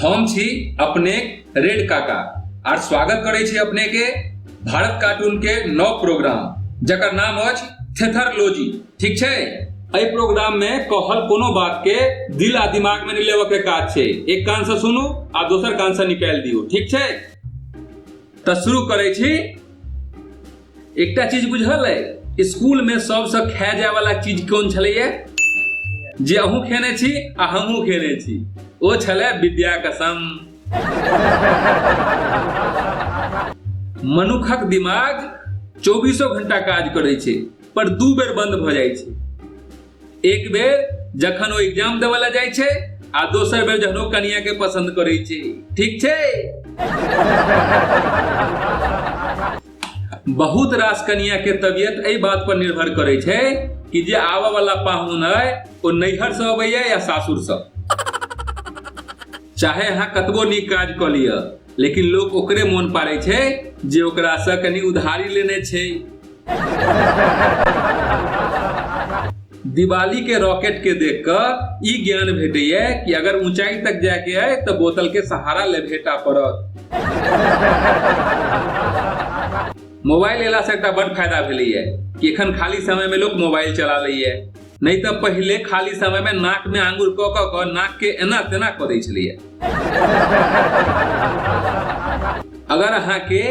हम छी अपने रेड काका आर स्वागत करै छी अपने के भारत कार्टून के नौ प्रोग्राम जकर नाम अछि थेथरलोजी ठीक छै एहि प्रोग्राम में कहल कोनो बात के दिल आ दिमाग में नहीं लेवे के काज छै एक कान से सुनू आ दोसर कान से निकाल दियो ठीक छै तो शुरू करे छी एकटा चीज बुझल अइ स्कूलमे सभसँ खाए जायवला चीज कोन छलैए जे अहूँ खेने छी आ हमहूँ खेने छी ओ छलै विद्या कसम मनुखक दिमाग चौबीसो घंटा काज करै छै पर दू बेर बंद भऽ जाइ छै एक बेर जखन ओ एग्जाम देवे ला जाय छै आ दोसर बेर जखन ओ कनिया के पसंद करे छै ठीक छै बहुत रास कनिया के तबियत एहि बात पर निर्भर करे छै कि जे आवे वाला पाहुन है ओ नैहर से अबैया या सासुर से चाहे अहाँ कतबो नीक काज कऽ लिअ लेकिन लोग ओकरे मोन पाड़े छै जे ओकरा से कनी उधारी लेने छै दिवाली के रॉकेट के देख क ई ज्ञान भेटैया कि अगर ऊंचाई तक जाय के है तो बोतल के सहारा ले भेटा पड़त मोबाइल एला से एकटा बड़ फायदा भेलैया कि एखन खाली समय में लोग मोबाइल चला लैया नहि तऽ पहिले खाली समय में नाक में आंगुर कऽ कऽ कऽ नाक के एना तेना कऽ दै छलियै अगर अहाँ के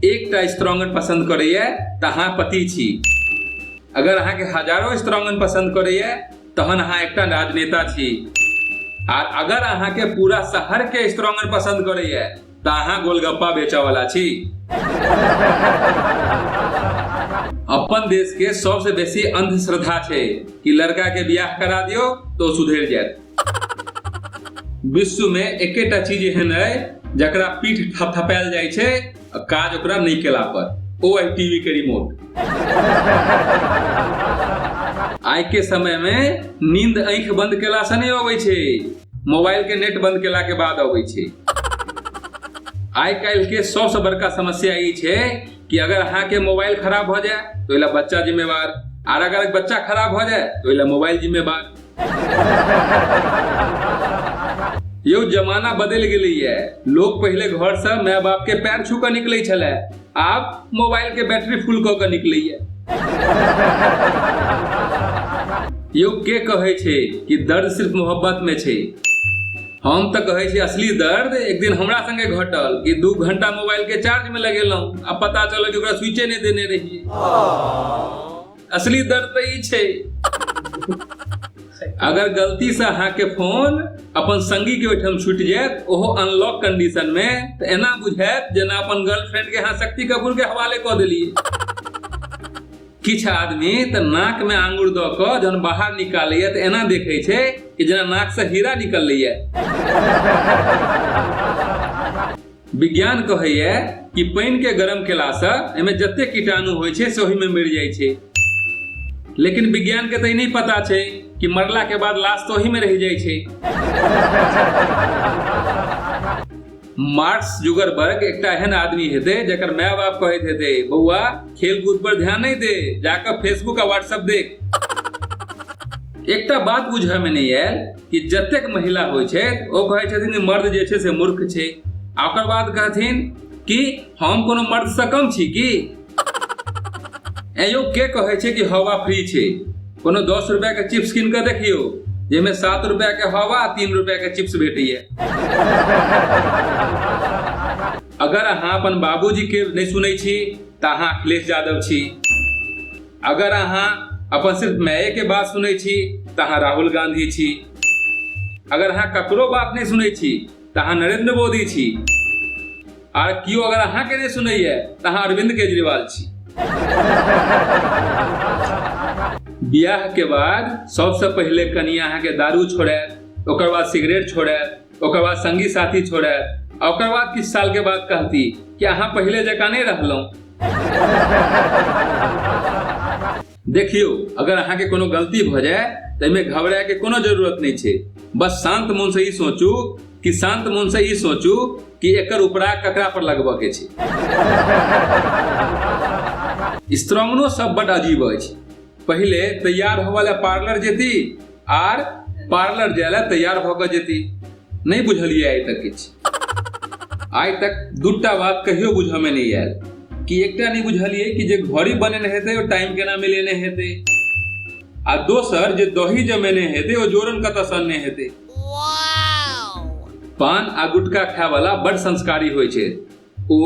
एकटा स्ट्रॉन्गन पसंद करैया तऽ अहाँ पति छी अगर अहाँ के हजारों स्ट्रॉन्गन पसंद करैया तहन अहाँ एकटा राजनेता छी आर अगर अहाँ के पूरा शहर के स्ट्रॉन्गन पसंद करैया त अहाँ गोलगप्पा बेचा वाला छी अपन देश के सबसे बेसी अंधश्रद्धा छै कि लड़का के बियाह करा दियो तो सुधर जायत विश्व में एकेटा चीज एहन है जकरा पीठ थपथपायल जाइ छै आ काज ओकरा नहीं केला पर ओ है टीवी के रिमोट आइ के समय में नींद आंख बंद केला से नहीं अबै छै मोबाइल के नेट बंद केला के बाद अबै छै आइ काल्हि के सबसे बड़का समस्या ई छै कि अगर अहाँ के मोबाइल खराब भ जाए तो ओहि ला बच्चा जिम्मेवार आर अगर बच्चा खराब भ जाए तो ओहि ला मोबाइल जिम्मेवार यौ जमाना बदलि गेलैए लोग पहिले घर से माय बाप के पैर छू के निकलै छलै आब मोबाइल के बैटरी फुल कऽ के निकलैया यौ के कहै छै कि दर्द सिर्फ मोहब्बत में छै हम तऽ कहै छी असली दर्द एक दिन हमरा संगे घटल कि दू घंटा मोबाइल के चार्ज में लगेलहुं आ पता चलल कि ओकरा स्विचे नहि देने रहिए असली दर्द तऽ ई छै अगर गलती से अहाँ के फोन अपन संगी के ओहिठाम छूटि जायत ओहो अनलॉक कंडीशन में तऽ एना बुझायत जेना अपन गर्लफ्रेंड के अहाँ शक्ति कपूर के हवाले कऽ देलियै किछु आदमी तऽ नाक में आंगुर दऽ कऽ जहन बाहर निकालैया तऽ एना देखै छै कि जेना नाक से हीरा निकललैया विज्ञान कहैए कि पानिके गरम केलासँ एहिमे जते कीटाणु होइ छै से ओहिमे मरि जाइ छै लेकिन विज्ञानके तऽ ई नहि पता छै कि मरलाके बाद लाश तऽ ओहिमे रहि जाइ छै मार्क्स जुगरबर्ग एकटा एहन आदमी हेतै जकर माय बाप कहैत हेतै बौआ खेलकूद पर ध्यान नहि दे जाकर फेसबुक आ व्हाट्सएप देख एकटा बात बुझऽ में नहीं आयल कि जतेक महिला होइ छै ओ कहै छथिन जे मर्द जे छै से मूर्ख छै आ ओकर बाद कहथिन कि हम कोनो मर्दसँ कम छी कि एयो के कहै छै कि हवा फ्री छै कोनो दस रुपैआके चिप्स कीन कऽ देखियौ जाहिमे सात रुपैआके हवा आ तीन रुपैआके चिप्स भेटैए अगर अहाँ अपन बाबूजीके नहि सुनै छी तऽ अहाँ अखिलेश यादव छी अगर अहाँ अपन सिर्फ माये के बात सुनै छी तऽ अहाँ राहुल गांधी छी अगर अहाँ ककरो बात नहि सुनै छी तऽ अहाँ नरेंद्र मोदी छी आर केओ अगर अहाँके नहि सुनैए तऽ अहाँ अरविंद केजरीवाल छी बियाह के बाद सबसे पहले कनिया अहाँ के दारू छोड़े ओकर बाद सिगरेट छोड़े ओकर बाद संगी साथी छोड़े आ ओकर बाद किछु साल के बाद कहती कि अहाँ पहिले जकाँ नहि रहलहुँ देखियौ अगर अहाँके कोनो गलती भऽ जाय तऽ एहिमे घबराए के कोनो जरूरत नहि छै बस शांत मन से ई सोचू कि शांत मन से ई सोचू कि एकर उपरा ककरा पर लगबऽ के छै स्त्रंगनो सब बड अजीब अछि पहिले तैयार होवऽ लए पार्लर जेती आर पार्लर जाय लए तैयार भऽ कऽ जेती नहि बुझलियै आइ तक किछु आइ तक दूटा बात कहियो बुझऽमे नहि आयल कि एकटा नहि बुझलियै कि जे घड़ी बनेने हेतै ओ टाइम केना मिलेने हेतै आ दोसर जे दही जमेने हेतै ओ जोरन कतऽ सनने हेतै पान आ गुटखा खाय वाला बड़ संस्कारी होइ छै ओ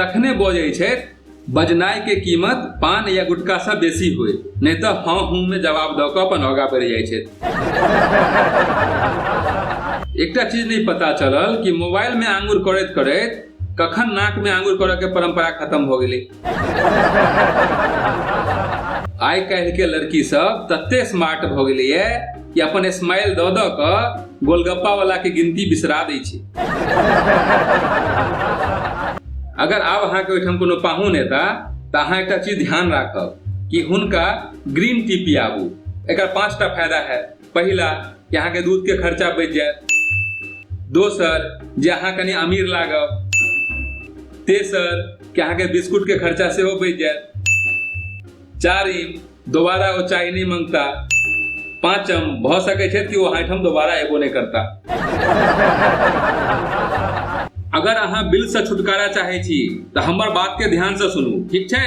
तखने बजै छथि बजनाइ के कीमत पान या गुटका से बेसी होय नहि तऽ हँ हूँ में जवाब दऽ कऽ अपन आगा बढ़ि जाइ छथि एकटा चीज नहि पता चलल कि मोबाइल में आंगुर करैत करैत कखन नाक में आंगुर करऽ के परंपरा खत्म भऽ गेलै आइ काल्हि के लड़की सब तते स्मार्ट भ गेले ये कि अपन स्माइल द द क गोलगप्पा वाला के गिनती बिसरा दै छै अगर आब अहाँके ओहिठाम कोनो पाहुन एता तऽ अहाँ एकटा चीज ध्यान राखब कि हुनका ग्रीन टी पियाबू एकर पाँचटा फायदा है पहिला कि अहाँके दूधके खर्चा बचि जायत दोसर जे अहाँ कनि अमीर लागब तेसर कि अहाँके बिस्कुटके खर्चा सेहो बचि जायत चारिम दोबारा ओ चाय नहि मंगता पाँचम भऽ सकैत छै कि ओ अहाँठाम दोबारा एबो नहि करता अगर अहाँ बिलसँ छुटकारा चाहै छी तऽ हमर बातके ध्यानसँ सुनू ठीक छै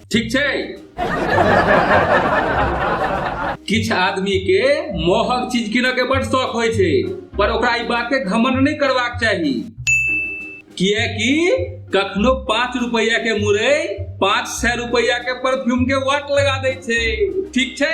ठीक छै किछु आदमी के मोहक चीज किनऽ के बड़ शौक होइ छै पर ओकरा ई बात के घमंड नहीं करवाक चाही किए कि कखनो पाँच रुपया के मुरे पाँच सौ रुपया के परफ्यूम के वाट लगा दे छे ठीक छे